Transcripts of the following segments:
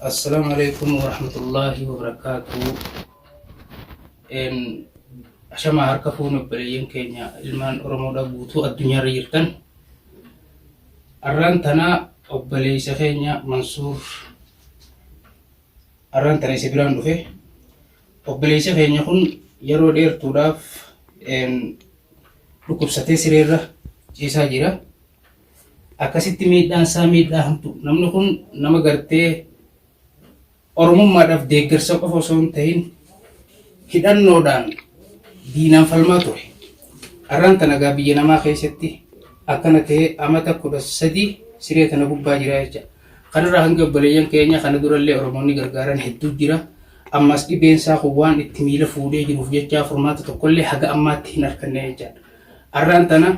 Assalaamu alaikum warahmatullaahi wabarakaatuhu. Een, Ashamaa harka fuunee obboleeyyan keenya ilmaan Oromoodha guutuu addunyaarra jirtan. Arraan tana obboleessa keenya Mansuur arraan tana isa biraan dhufe. Obboleessa keenya kun yeroo dheertuudhaaf een, dhukkubsatee sireerra ciisaa jira. Akkasitti miidhaan isaa miidhaa hamtuu. Namni kun nama gartee Oromummaadhaaf deeggarsa qofa osoo hin ta'in hidhannoodhaan diinaan falmaa ture. Har'aan tana egaa biyya namaa keessatti akkana ta'ee amata kudha sadii siree tana gubbaa jira jecha. Kanarraa hanga obboleeyyan keenya kana durallee Oromoonni gargaaran hedduu jira. Ammas dhibeen isaa kun waan itti miila fuudhee jiruuf jecha furmaata tokkollee haga ammaatti hin arganne jechaadha. Har'aan tana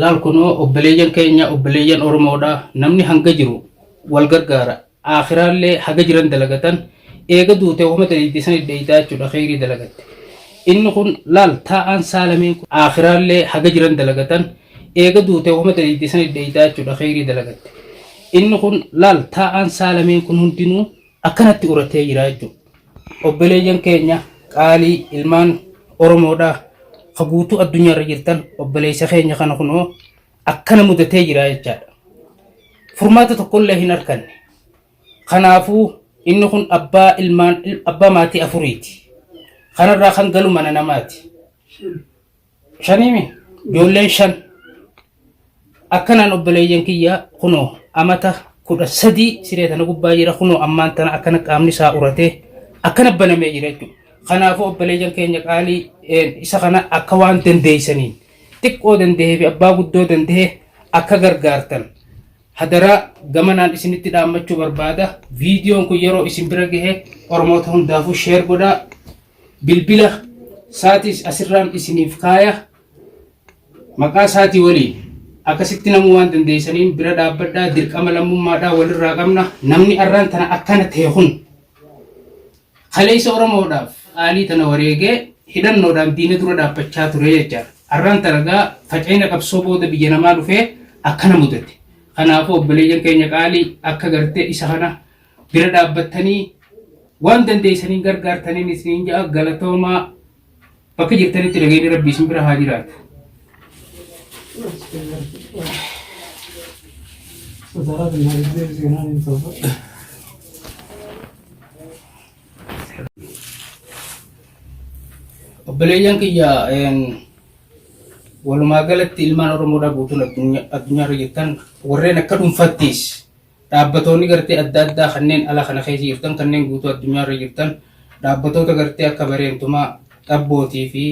laal kunoo obboleeyyan keenya obboleeyyan oromoodha namni hanga jiru wal gargaara aakhiraallee haga jiran dalagatan eega duute wahuma daleeyde sanit dheeyxaa jechuudha kheyrii dalagatte inni kun laal taa'aan saa lameen kun aakhiraallee haga jiran dalagatan eega duute wahuma daleeyde sanit dheeyxaa jechuudha kheyrii dalagatte inni kun laal taa'aan saa lameen kun hundinuu akkanatti uratee jira jechuudha obboleeyyan keenya qaalii ilmaan oromoodhaa ka guutuu addunyaarra jirtan obboleeysa keenya kana kunoo akkana mudatee jira jechaadha. Furmaata tokkollee hin arganne. Kanaafuu inni kun abbaa ilmaan abbaa maatii afuriiti. Kanarraa kan galu mana namaati. Shaniimi ijoolleen shan akkanaan obboleeyyan kiyya kunoo amata kudha sadii siree tana gubbaa jira kunoo ammaan tana akkana qaamni isaa uratee akkana banamee jira jechuudha. Kanaafuu obboleeyyan keenya qaalii isa kana akka waan dandeessaniin xiqqoo danda'ee fi abbaa guddoo danda'e akka gargaartan hadaraa gamanaan isinitti dhaammachuu barbaada. Viidiyoon kun yeroo isin bira gahe Oromoota hundaafuu sheer godhaa. Bilbila isaatis asirraan isiniif kaaya. Maqaa isaatii waliin akkasitti namuu waan dandeessaniin bira dhaabbadhaa dirqama lammummaadhaa walirraa qabna. Namni arraan tana akkana ta'e kun Kaleessa Oromoodhaaf qaalii tana wareegee hidhannoodhaan diina dura dhaabbachaa ture jecha arraan tana egaa faca'ina qabsoo booda biyya namaa dhufee akkana mudate. Kanaafuu obboleeyyan keenya qaalii akka gartee isa kana bira dhaabbattanii waan dandeessaniin gargaartaniin isiniin ja'a galatoomaa. Bakka jirtanitti nageenyi rabbii isin bira haa jiraatu. Sodaraa fi nageenya seenaa hin ta'u. Obboleeyyan kiyya walumaa galatti ilmaan Oromoodhaa guutuun addunyaarra jirtan warreen akka dhuunfattis Dhaabbatoonni gartee adda addaa kanneen ala kana keessa jirtan kanneen guutuu addunyaa irra jirtan dhaabbatoota gartee akka bareentumaa dhabbootii fi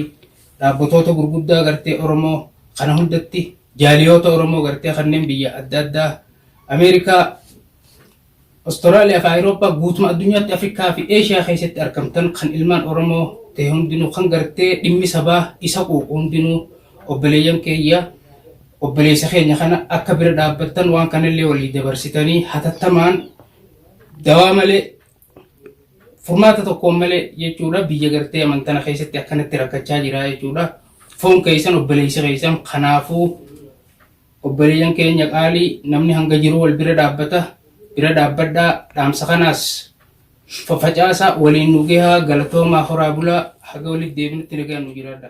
dhaabbatoota gurguddaa gartee Oromoo kana hundatti jaaliyoota Oromoo gartee kanneen biyya adda addaa Ameerikaa Australia fi Awurooppaa guutuma addunyaatti Afrikaa fi Eeshiyaa keessatti argamtan kan ilmaan Oromoo ta'e hundinuu kan gartee dhimmi sabaa isa quuqu hundinuu obboleeyyan keeyya Obboleessa keenya kana akka bira dhaabbattan waan kanallee walii dabarsitanii hatattamaan dawaa malee furmaata tokkoon malee jechuudha biyya gartee amantana keessatti akkanatti rakkachaa jira jechuudha. Foon keessan obboleessa keessan kanaafuu obboleeyyan keenya qaalii namni hanga jiru wal bira dhaabbata bira dhaabbadhaa dhaamsa kanaas facaasaa waliin nu gahaa galatoomaa horaa bulaa haga walitti deebinutti nagaan nu jiraadha.